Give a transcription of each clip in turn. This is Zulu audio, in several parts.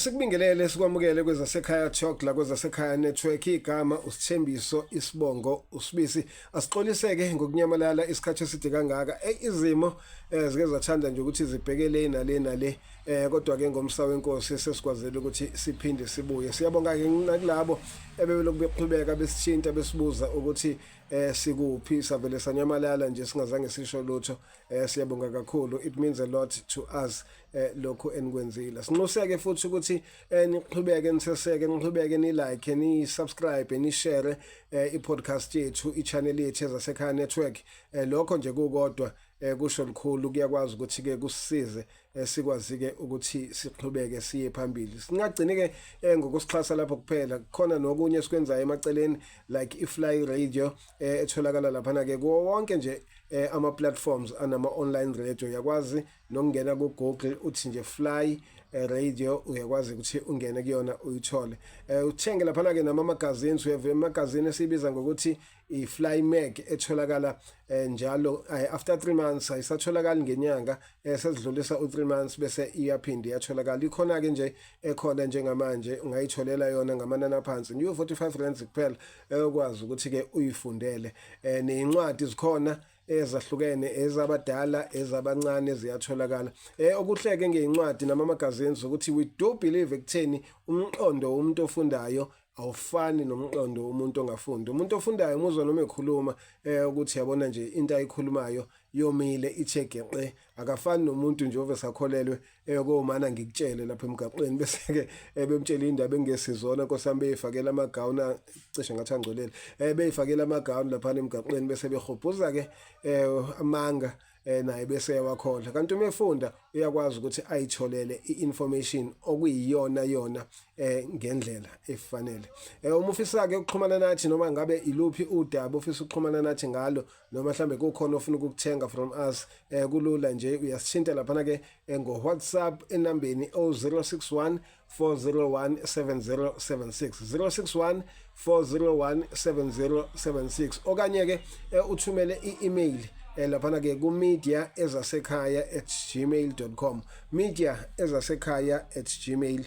Asikubingelele sikwamukele kwezasekhaya Talk la kwezasekhaya network igama usithembiso isibongo usibisi asixoliseke ngokunyamalala isikhathi eside kangaka izimo eh, zike zathanda nje ukuthi zibhekele nale nale eh kodwa ke ngomsa wenkosi sesikwazile ukuthi siphinde sibuye siyabonga ke kulabo ebebelokhu beqhubeka besithinta besibuza ukuthi eh sikuphi savele sanyamalala nje singazange sisho lutho eh siyabonga kakhulu it means a lot to us eh lokho enikwenzile sinxuseke futhi ukuthi eh, niqhubeke niseseke niqhubeke ni like ni subscribe ni share eh, i podcast yethu i channel yethu ezasekhaya network eh, lokho nje kukodwa eh kusho likhulu kuyakwazi ukuthi ke kusize Eh, sikwazi-ke ukuthi siqhubeke siye phambili singagcini-ke um ngokusixhasa lapho kuphela khona nokunye esikwenzayo emaceleni like i-fly radio um etholakala laphana-ke kuwo wonke nje um ama-platforms anama-online radio uyakwazi nokungena ku-google uthi nje fly radio uyakwazi ukuthi ungene kuyona uyithole um uthenge laphana-ke nama-magazines uyeva imagazini esiyibiza ngokuthi i-fly mag etholakala eh, njalo eh, after 3 months ayisatholakali ngenyanga eh, sesidlulisa u3 months bese iyaphinde iyatholakala ikhona ke nje ekhona njengamanje ungayitholela yona ngamanani aphansi nje 45 rand kuphela eyokwazi ukuthi ke uyifundele nezincwadi zikhona ezahlukene ezabadala ezabancane ziyatholakala eh okuhleke ngeincwadi namamagazines ukuthi we do believe ekutheni umqondo womuntu ofundayo awufani nomqondo umuntu ongafundi umuntu ofundayo umuzwa noma ekhuluma eh ukuthi yabona nje into ayikhulumayo yomile ichegeqe akafani nomuntu nje ove sakholelwe eyokomana eh, ngikutshele lapha emgaqweni bese ke eh, bemtshela indaba engesizona nkosami beyifakela amagawuna cishe ngathi angcolele eh beyifakela amagawuna lapha emgaqweni bese behobhuza ke eh, amanga eh naye bese yawakhondla kanti uma efunda uyakwazi ukuthi ayitholele i-information okuyiyona yona eh ngendlela efanele eh uma ufisa ke ukuxhumana nathi noma ngabe iluphi udaba ufisa ukuxhumana nathi ngalo noma mhlambe kukhona ofuna ukukuthenga from us eh kulula nje uyasithinta lapha ke eh, ngo WhatsApp enambeni 0611 4017076 061 okanye ke eh, uthumele i-email eh, laphana ke kumedia ezasekhaya at gmail com media ezasekhaya at gmail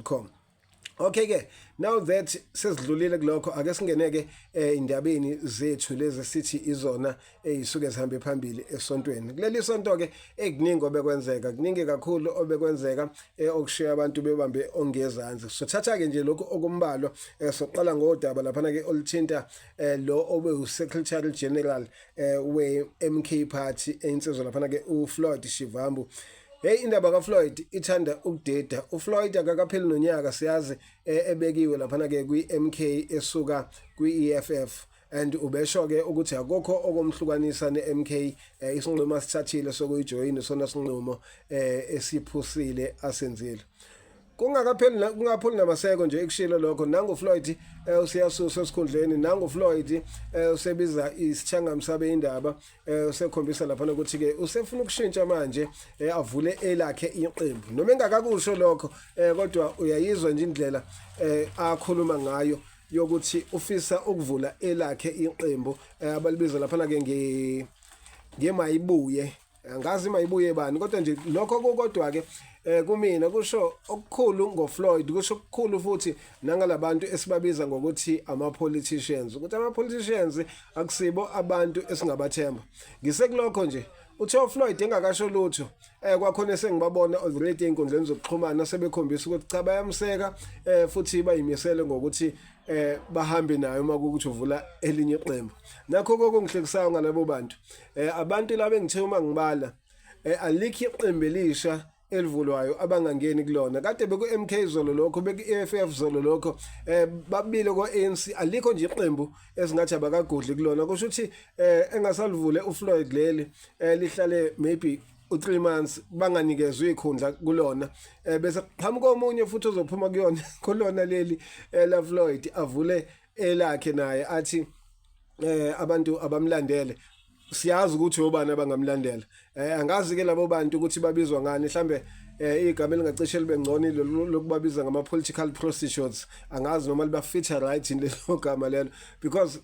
com Okay ke now that sesidlulile kulokho ake singeneke eh, indabeni zethu lezi sithi izona eyisuke sihambe phambili esontweni kuleli sonto ke ekuningi obekwenzeka kuningi kakhulu obekwenzeka eh, okushiya abantu bebambe ongezansi sothatha ke nje lokho okumbalwa eh, soqala ngodaba laphana ke olithinta eh, lo obe uSecretary General we MK Party einsizwa laphana ke uFloyd Shivambu Hey indaba kaFloyd ithanda ukudeda. UFloyd akakapheli nonyaka siyazi ebekiwe laphana ke kwiMK esuka kwiEFF. and ubesho ke ukuthi akukho okomhlukanisa neMK eh, isinqumo asithathile sokuyijoyina sona sinqumo eh, esiphusile asenzile kungakapheli kungapholi namaseko nje ekushilo lokho nangu Floyd eh, usiyasusa esikhundleni nangu Floyd eh, usebiza isithanga msabe indaba eh, usekhombisa lapha ukuthi ke usefuna ukushintsha manje eh, avule elakhe iqembu noma engakakusho lokho eh, kodwa uyayizwa nje indlela eh, akhuluma ngayo yokuthi ufisa ukuvula elakhe iqembu eh, abalibiza laphana ke nge ngemayibuye angazi mayibuye bani kodwa nje lokho kokodwa ke eh kumina kusho okukhulu ngoFloyd kusho okukhulu futhi nangalabantu esibabiza ngokuthi ama politicians ukuthi ama politicians akusibo abantu esingabathemba ngisekulokho nje uthe uFloyd engakasho lutho eh kwakhona sengibabona already einkundleni zokuxhumana sebekhombisa ukuthi cha bayamseka eh futhi bayimisele ngokuthi eh bahambe naye uma ukuthi uvula elinye iqembu nakho kokungihlekisayo ngalabo bantu eh abantu laba engithe uma ngibala eh alikho iqembu elisha elivulwayo abangangeni kulona kade beku MK zolo lokho beku EFF zolo lokho eh babile ko ANC alikho nje iqembu esingathi abakagodli kulona kusho ukuthi eh engasalivule uFloyd leli eh lihlale maybe u3 months banganikezwe ikhundla kulona eh bese qhamuka omunye futhi ozophuma kuyona kulona leli eh, la Floyd avule elakhe naye athi eh abantu abamlandele siyazi ukuthi obani abangamlandela eh angazi ke labo bantu ukuthi babizwa ngani mhlambe eh igama elingacishe libe ngcono lokubabiza ngama political prostitutes angazi noma liba feature right in lelo gama lelo because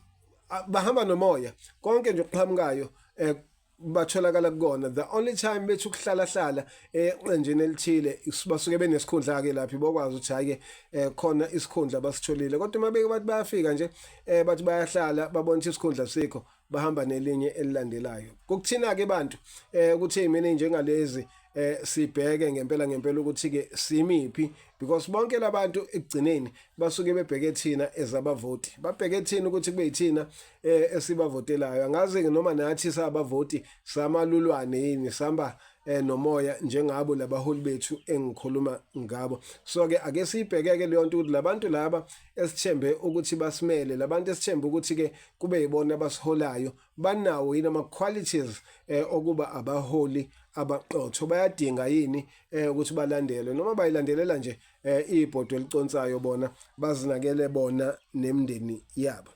bahamba nomoya konke nje okuqhamukayo eh batholakala kukona the only time bethu kuhlala hlala eqenjeni elithile basuke benesikhundla ke laphi bokwazi ukuthi hayi ke eh, khona isikhundla basitholile kodwa uma beke bathi bayafika nje eh, bathi bayahlala babona ukuthi isikhundla sikho bahamba nelinye elilandelayo kukuthina ke abantu eh, ukuthi mina njengalezi eh sibheke ngempela ngempela ukuthi ke simiphi because bonke labantu ekugcineni basuke bebheke thina ezabavoti babheke thina ukuthi kube yithina eh, esibavotelayo angazi noma nathi sabavoti samalulwane yini samba eh, nomoya njengabo labaholi bethu engikhuluma ngabo so ke ake sibhekeke leyo nto ukuthi labantu laba esithembe ukuthi basimele labantu esithembe ukuthi ke kube yibona abasiholayo banawo yini ama qualities eh, okuba abaholi abaqotho bayadinga yini eh, ukuthi balandelwe noma bayilandelela nje eh, ibhodo eliconsayo bona bazinakele bona nemndeni yabo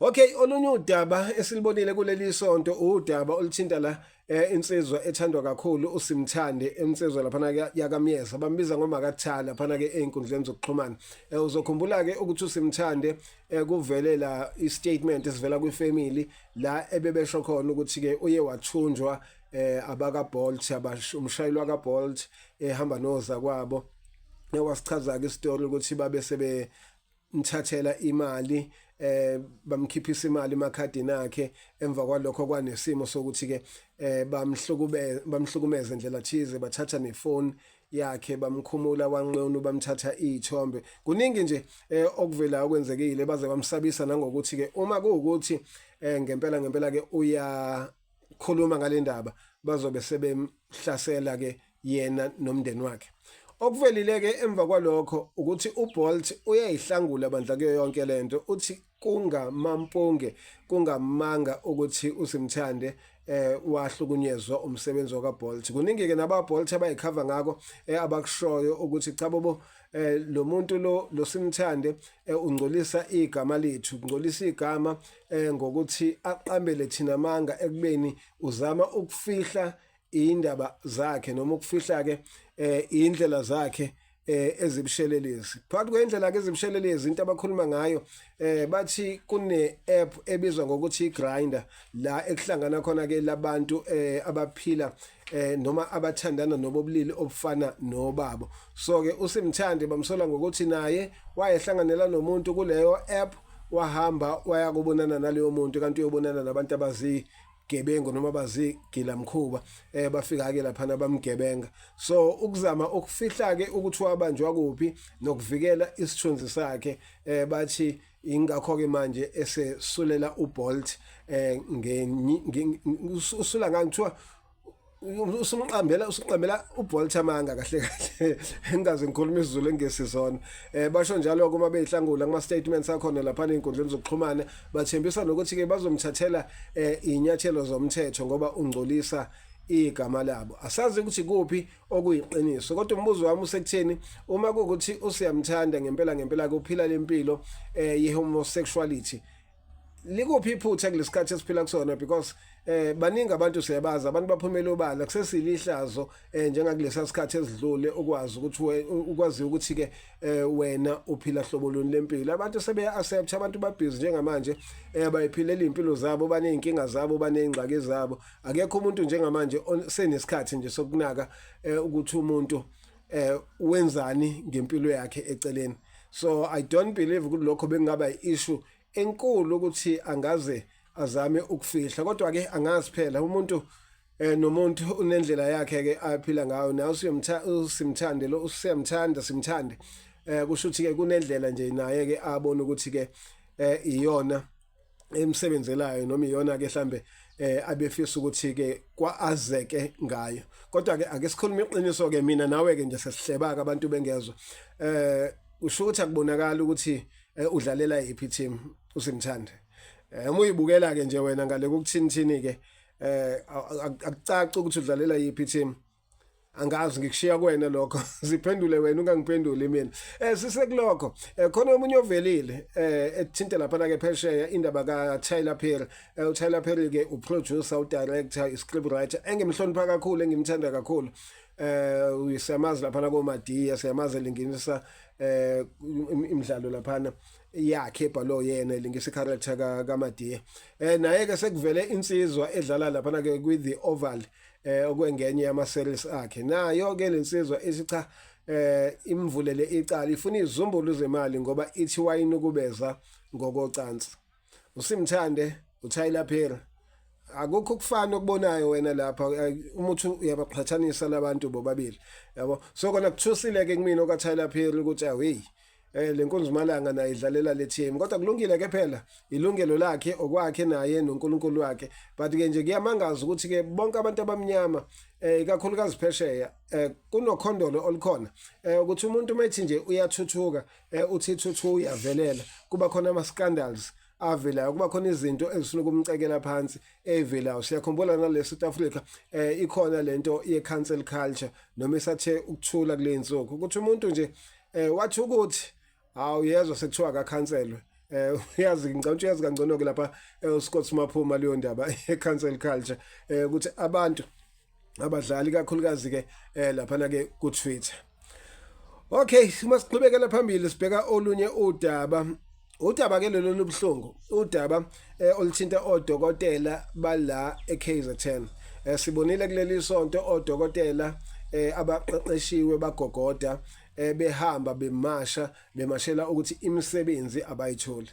Okay olunye udaba esilibonile kuleli sonto udaba oluthinta la eh insizwa ethandwa kakhulu usimthande insizwa lapha yakamyeza bambiza ngomakathala lapha ke einkundleni zokuxhumana eh, uzokhumbula ke ukuthi usimthande eh, kuvele la istatement esivela kwifamily la ebebesho khona ukuthi ke uye wathunjwa eh abaka Bolt abashumshayeli waka Bolt ehamba noza kwabo ewasichaza ke istory ukuthi babe sebe mthathela imali eh bamkhiphisa imali emakhadini akhe emva kwalokho kwanesimo sokuthi ke eh bamhlukube bamhlukumeza indlela thize bathatha nefoni yakhe bamkhumula wanqunu bamthatha izithombe kuningi nje eh, okuvela okwenzekile baze bamsabisa nangokuthi ke uma kuwukuthi eh, ngempela ngempela ke uya khuluma ngalendaba bazobe sebemhlasela ke yena nomndeni wakhe okuvelile ke emva kwalokho ukuthi uBolt uyayihlangula bandla kuyo yonke lento uthi kungamampunge kungamanga ukuthi usimthande eh wahlukunyezwa umsebenzi wakaBolt kuningi ke nabaBolt abayikhava ngako eh, abakushoyo ukuthi cha bobo eh lo muntu lo losimthande eh, ungcolisa igama lethu ungcolisa igama eh ngokuthi aqambele thina manga ekubeni uzama ukufihla indaba zakhe noma ukufihla ke eh indlela zakhe eh ezibushelelezi phakathi kwendlela ke ezibushelelezi into abakhuluma ngayo eh bathi kune app ebizwa ngokuthi iGrinder la ekuhlangana khona ke labantu eh abaphila eh noma abathandana nobobulili obufana nobabo so ke usimthande bamsola ngokuthi naye wayehlanganela nomuntu kuleyo app wahamba waya kubonana naleyo muntu kanti uyobonana nabantu abazi gebengu noma bazigila mkhuba eh bafika ke lapha bamgebenga so ukuzama ukufihla ke ukuthi wabanjwa kuphi nokuvikela isithunzi sakhe eh bathi ingakho-ke manje esesulela ubolt eh usula ngani kuthiwa usumqambela usuqambela ubolt amanga kahle kahle engaze ngikhuluma isizulu engesizona eh basho njalo kuma beyihlangula kuma statements akhona lapha ezinkundleni zokuxhumana bathembisa nokuthi ke bazomthathela eh inyathelo zomthetho ngoba ungcolisa igama labo asazi ukuthi kuphi okuyiqiniso kodwa umbuzo wami usekutheni uma kukuthi usiyamthanda ngempela ngempela kuphila lempilo eh yehomosexuality likuphi iphutha kulesikhathi esiphila kusona because eh baningi abantu siyabazi abantu baphumela obala kusesilihlazo eh njengakulesa sikhathi esidlule ukwazi ukuthi ukwazi ukuthi ke eh, wena uphila hlobo luni lempilo abantu sebe accept abantu babhizi njengamanje eh bayiphilela impilo zabo baneyinkinga zabo banezingxaki zabo akekho umuntu njengamanje osenesikhathi nje sokunaka eh, ukuthi umuntu eh wenzani ngempilo yakhe eceleni so i don't believe ukuthi lokho bekungaba i-issue enkulu ukuthi angaze azame ukufihla kodwa ke angazi phela umuntu eh nomuntu unendlela yakhe ke aphila ngayo nawe usimthande lo usemthanda simthande eh kusho ukuthi ke kunendlela nje naye ke abona ukuthi ke eh iyona emsebenzelayo noma iyona ke mhlambe eh abefisa ukuthi ke kwaazeke ngayo kodwa ke ake sikhulume iqiniso ke mina nawe ke nje sesihlebaka abantu bengezwe eh usho ukuthi akubonakala ukuthi eh, udlalela yiphi team usimthande eh uma uyibukela ke nje wena ngale kukuthini thini ke eh akucaci ukuthi udlalela yiphi team angazi ngikushiya kuwena lokho ziphendule wena ungangiphenduli mina eh sisekulokho eh, khona omunye ovelile eh ethinta lapha la ke phesheya indaba ka Tyler Perry eh, u Tyler Perry ke u producer u director i script writer engimhlonipha kakhulu engimthanda kakhulu eh uyisemazi lapha la ko Madiya siyamazi linginisa eh imidlalo laphana yakhe ebhalo yena lingisa character ka kaMadiya eh naye ke sekuvele insizwa edlala lapha ke kwi the oval eh okwengenye yama series akhe nayo ke lensizwa isicha eh imvulele icala ifuna izumbulu zemali ngoba ithi wayinukubeza ngokocansi usimthande uTyler Perry akukho ukufana okubonayo wena lapha umuthi uyabaqhathanisa labantu bobabili yabo so kona kuthusile ke kumina okaTyler Perry ukuthi away eh lenkonzumalanga naye idlalela le team kodwa kulungile ke phela ilungelo lakhe okwakhe naye noNkulunkulu wakhe but ke nje kuyamangaza ukuthi ke bonke abantu abamnyama eh ikakhulukazi phesheya eh kunokhondolo olukhona eh ukuthi umuntu methi nje uyathuthuka eh uthi thuthu uyavelela kuba khona ama scandals avelayo kuba khona izinto ezifuna ukumcekela phansi evelayo siyakhumbula nale South Africa eh ikhona lento ye cancel culture noma isathe ukuthula kulenzuko ukuthi umuntu nje eh wathi ukuthi hawu yezwa sekuthiwa akakhanselwe eh uyazi ngicabanga uyazi kangcono ke lapha eh, uScott Maphuma leyo ndaba ecancel culture eh ukuthi abantu abadlali kakhulukazi ke eh lapha na ke ku Twitter Okay, uma siqhubekela phambili sibheka olunye udaba Udaba ke lolu lubuhlungu udaba eh, oluthinta odokotela bala eKZN eh, sibonile kuleli sonto odokotela eh, abaqeqeshiwe bagogoda eh, behamba bemasha bemashela ukuthi imisebenzi abayitholi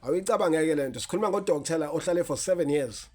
awuyicabangeke lento sikhuluma ngodokotela ohlale for 7 years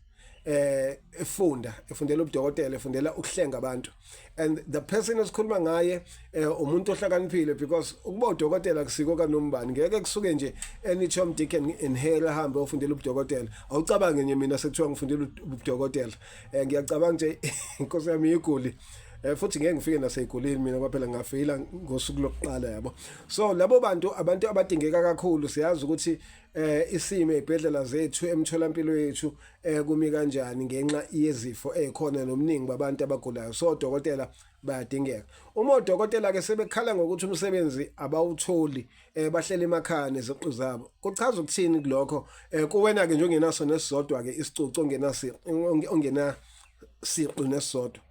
eh efunda efundela ubudokotela efundela ukuhlenga abantu and the person esikhuluma ngaye eh, umuntu ohlakaniphile because ukuba udokotela kusiko kanombani ngeke kusuke nje any Tom Dick and in Harry ahambe ofundela ubudokotela awucabange nje mina sekuthiwa ngifundela ubudokotela eh, ngiyacabanga nje inkosi yami iguli eh futhi ngeke ngifike naseyigolini mina kwaphela ngafeyila ngosuku lokuqala yabo so labo bantu abantu abadingeka kakhulu siyazi ukuthi eh isimo ezibhedlela zethu emtholampilo yethu eh kumi kanjani ngenxa yezifo ezikhona nomningi babantu abagulayo so dokotela bayadingeka uma odokotela ke sebekhala ngokuthi umsebenzi abawutholi eh bahlela emakhaya neziqu zabo kuchaza ukuthini kulokho eh kuwena ke nje ongenaso nesizodwa ke isicucu ongenasi ongena siqu nesizodwa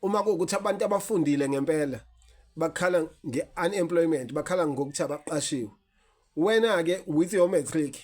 uma kuwukuthi abantu abafundile ngempela bakhala nge-unemployment bakhala ngokuthi abaqashiwe wena ke with your matric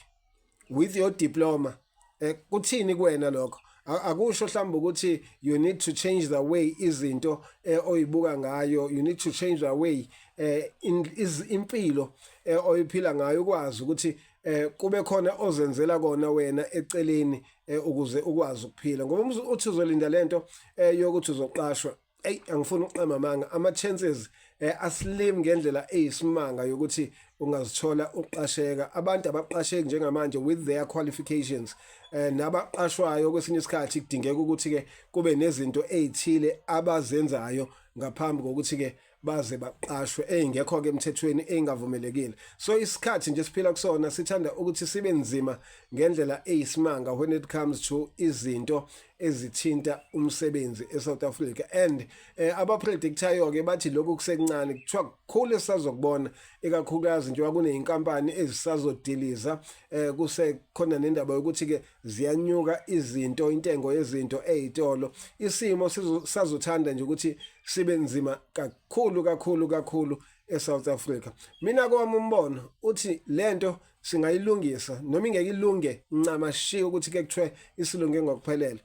with your diploma eh, kuthini kuwena lokho akusho mhlawumbe ukuthi you need to change the way izinto eh, oyibuka ngayo you need to change the way eh, in, is, impilo eh, oyiphila ngayo ukwazi ukuthi eh, kube khona ozenzela kona wena eceleni eh, ukuze ukwazi ukuphila ngoba uthi uzolinda lento eh, yokuthi uzoqashwa eyi angifuni ukuqamba amanga ama-chances eh, aslim ngendlela eyisimanga yokuthi ungazithola uqasheka abantu abaqasheki njengamanje with their qualifications eh, nabaqashwayo kwesinye isikhathi kudingeka ukuthi-ke kube nezinto ey'thile abazenzayo ngaphambi kokuthi-ke baze baqashwe ey'ngekho-ke emthethweni ey'ngavumelekile so isikhathi nje siphila kusona sithanda ukuthi sibe nzima ngendlela eyisimanga when it comes to izinto ezithinta umsebenzi eSouth Africa and eh, abapredictayo ke bathi lokhu kusekuncane kuthiwa kukhulu esazokubona ikakhulukazi njengoba kuneyinkampani ezisazodiliza eh, kusekhona nendaba yokuthi ke ziyanyuka izinto intengo yezinto ezitolo isimo sizothanda nje ukuthi sibe nzima kakhulu kakhulu kakhulu eSouth Africa mina kwami umbono uthi lento singayilungisa noma ingeke ilunge ncama shiya ukuthi ke kuthiwe isilunge ngokuphelele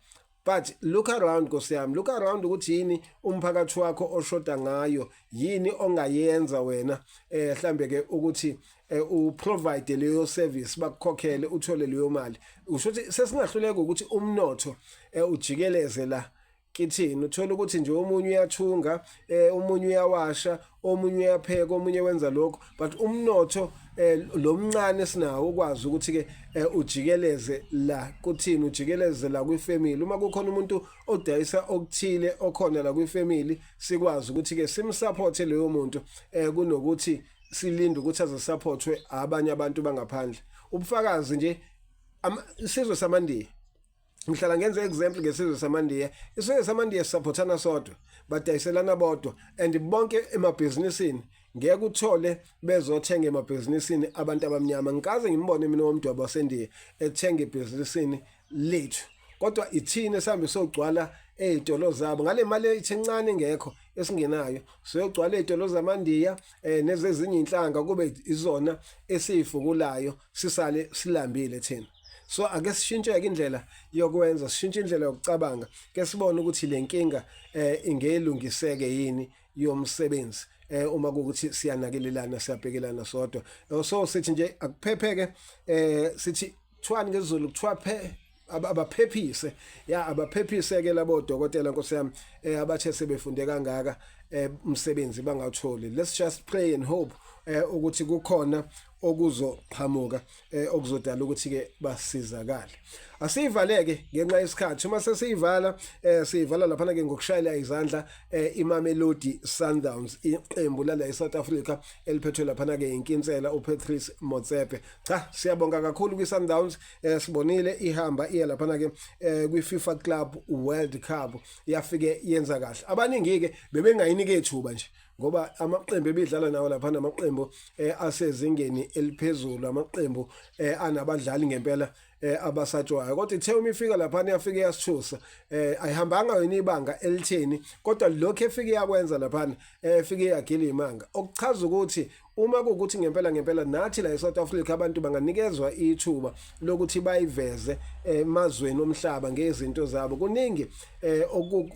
but look around nkosi yami look around ukuthi yini umphakathi wakho oshoda ngayo yini ongayenza wena eh mhlambe ke ukuthi eh, u provide leyo service bakukhokhele uthole leyo mali usho ukuthi sesingahluleka ukuthi umnotho eh, ujikeleze la kithini uthola ukuthi nje omunye uyathunga eh omunye uyawasha omunye uyapheka omunye wenza lokho but umnotho eh lomncane sinawo ukwazi ukuthi ke eh, ujikeleze la kuthini ujikeleze la kwi family uma kukhona umuntu odayisa okuthile okhona la kwi family sikwazi ukuthi ke simsupport leyo muntu eh kunokuthi silinde ukuthi azosupportwe abanye abantu bangaphandle ubufakazi nje isizwe samandiya ngihlala ngenza example ngesizwe samandiya isizwe samandiya sisaphothana sodwa badayiselana bodwa and bonke emabhizinisini ngeke uthole bezothenga emabhizinisini abantu abamnyama ngikaze ngimbone mina womdwabo wasendiya ethenga ebhizinisini lethu kodwa ithini sihambe sogcwala ezitolo zabo ngale mali eyincane ngekho esingenayo siyogcwala ezitolo zamandiya eh nezezinye inhlanga kube izona esifukulayo sisale silambile thina so ake sishintshe-ke indlela yokwenza sishintshe indlela yokucabanga ke sibone ukuthi le nkinga eh ingeyilungiseke yini yomsebenzi eh uma kukuthi siyanakelelana siyabhekelana sodwa eh, so sithi nje akuphepheke eh sithi kuthiwani ngezulu kuthiwa phe abaphephise ya abaphephise ke labo dokotela nkosi yami eh abathe sebefunde kangaka eh umsebenzi bangawutholi let's just pray and hope eh ukuthi kukhona okuzoqhamuka eh, okuzodala ukuthi ke basizakale asiyivaleke ngenxa yesikhathi uma sesiyivala eh, siyivala laphana ke ngokushayela izandla eh, iMamelodi Sundowns iqembu lala eSouth Africa eliphethwe laphana ke inkinsela uPatrice Motsepe cha siyabonga kakhulu kwiSundowns eh, sibonile ihamba iya laphana ke eh, kwiFIFA Club World Cup yafike yenza kahle abaningi ke bebengayinike ithuba nje ngoba amaqembu ebidlala nawo lapha namaqembu eh, asezingeni eliphezulu amaqembu eh, anabadlali ngempela eh, abasatshwayo kodwa ithe uma ifika lapha iyafika yasithusa eh, ayihambanga yona ibanga elitheni kodwa lokho efike yakwenza lapha eh, efike yagila imanga okuchaza ukuthi uma kuwukuthi ngempela ngempela nathi la eSouth Africa abantu banganikezwa ithuba lokuthi bayiveze eh, emazweni omhlaba ngezinto zabo kuningi eh,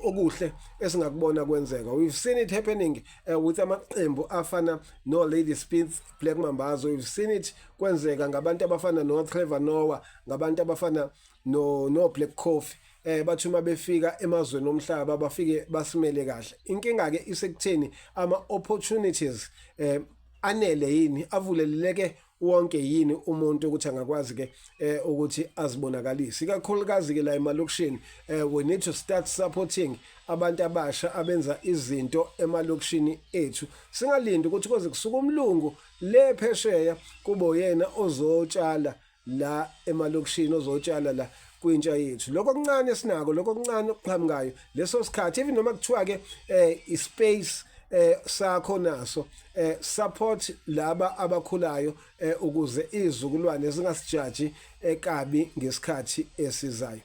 okuhle esingakubona kwenzeka we've seen it happening eh, with amaqembu afana no Lady Spitz Black Mambazo we've seen it kwenzeka ngabantu abafana no Trevor Noah ngabantu abafana no no Black Coffee eh bathi uma befika emazweni omhlaba bafike basimele kahle inkinga ke isekutheni ama opportunities eh anele yini avuleleke wonke yini umuntu ukuthi angakwazi ke eh ukuthi azibonakalise ikakhulukazi ke la emalokishini eh we need to start supporting abantu abasha abenza izinto emalokishini ethu singalinda ukuthi koze kusuka umlungu le phesheya kubo yena ozotshala la emalokishini ozotshala la kwintsha yethu lokho kuncane sinako lokho kuncane okuqhamukayo leso sikhathi even noma kuthiwa ke eh ispace eh sakho naso eh support laba abakhulayo eh ukuze izizukulwane zingasijaji ekabi eh, ngesikhathi esizayo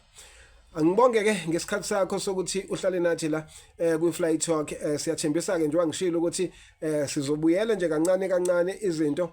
Angibonge ke ngesikhathi sakho sokuthi uhlale nathi la eh kwi Fly Talk eh siyathembisa ke njengoba ngishilo ukuthi eh sizobuyela nje kancane kancane izinto